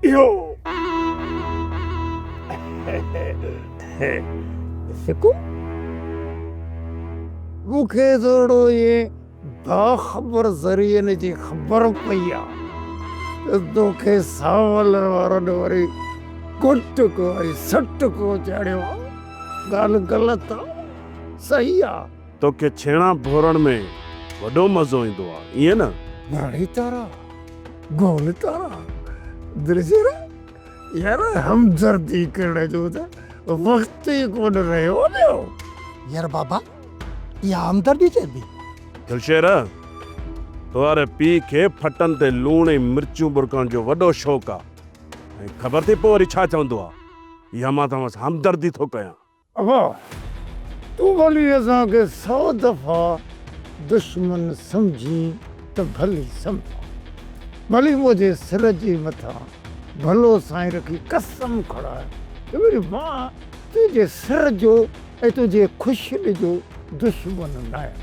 اهو سڪو مون کي ٿورڙو اهي باخبر ذريعن جي خبر پئي آ ته تو کي ساولر وارن وري ڪٽ ڪو ۽ سٽ ڪو چاڙهيو آ. ڳالهه غلط آ صحيح آ. توکي ڇيڻا ڀورڻ ۾ وڏو مزو ايندو آ ائين نه؟ ڳاڙهي تارا، گول تارا، درجيرا، يار همدردي ڪرڻ جو ته وقت ئي ڪونه رهيو آهيو. يار بابا اها همدردي چئبي؟ دلشير، توهاري پيء کي ڦٽن تي لوڻ ۽ مرچون ٻرڪڻ جو وڏو شوق آ ۽ خبر ٿي پوء وري ڇا چوندو آ، اها مان توهان سان همدردي ٿو ڪيان. اڀا! تون ڀلي اسان کي سؤ دفعا دشمن سمجهين ته ڀلي سمجهه، ڀلي منهنجي سر جي مٿان ڀلو سائين رکي قسم کڻاء ته وري مان تنهنجي سر جو ۽ تنهنجي خوشيء جو دشمن ناهيان.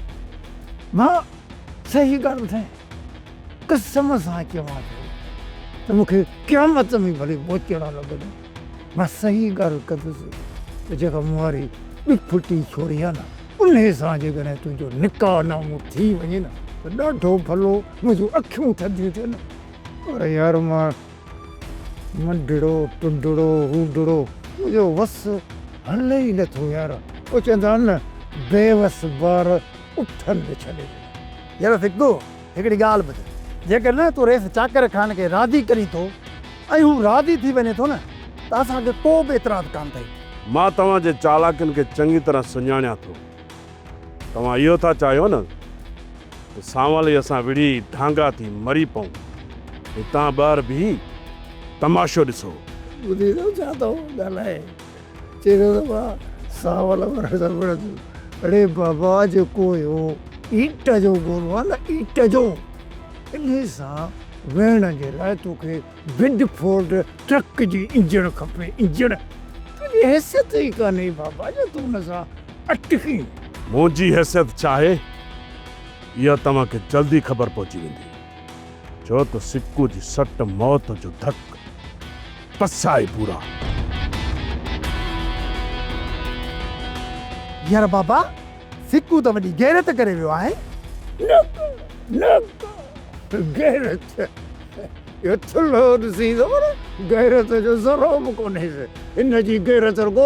مان صحيح ڳالهه ٻڌايان؟ قسم سان چوان ٿو ته مون کي قيامت ۾ ڀلي ٻوچڙا لڳن. مان صحيح ڳالهه ڪندس ته جيڪا مون واري ڏڦٽي ڇوڙي آهي نه، انهي سان جيڪڏهن تنهنجو نڪاح نامو ٿي وڃي نه ته ڏاڍو ڀلو، منهنجون اکيون ٿڌيون ٿين. پر يار مان منڊڙو، ٽنڊڙو، روڊڙو، منهنجو وس هلي ئي نه ٿو يار. او چوندا آهن نه بيوس ٻار اٺن تي ڇڏي ڏنو. يار سڪو هڪڙي ڳالهه ٻڌ، جيڪڏهن تون ريس چاڪر خان کي راضي ڪرين ٿو ۽ هو راضي ٿي وڃي ٿو نه ته اسان کي ڪو به اعتراض ڪانه اٿئي. مان توهان جي چالاڪين کي چڱي طرح سڃاڻيان ٿو. توهان اهو ٿا چاهيو نه ته سانولي اسان وڙهي ڍانگا ٿي مري پئون. هتان ٻاهر بيهي تماشو ڏسو. ٻڌي ٿو ڇا ٿو ڳالهائي. چيرو ربا سانول ورڻ سان وڙهندو. اڙي بابا جيڪو اهو ايٽ جو گولو آهي نه ايٽ جو انهي سان ويهڻ جي لاء توکي بڊ فورڊ ٽرڪ جي انجڻ کپي انجڻ تنهنجي حيثيت ئي ڪانهي بابا جو تون ان سان اٽڪين. منهنجي حيثيت ڇا آهي اها توهان کي جلدي خبر پئجي ويندي. ڇو ته سڪو جي سٽ موت جو ڌڪ، پس آهي پورا. يار بابا سڪو ته وڏي غيرت ڪري ويو آهي. نڪ نڪ غيرت اهو ٿلهو ڏسين ته پر غيرت جو ذرو به ڪونهيس. هن جي غيرت رڳو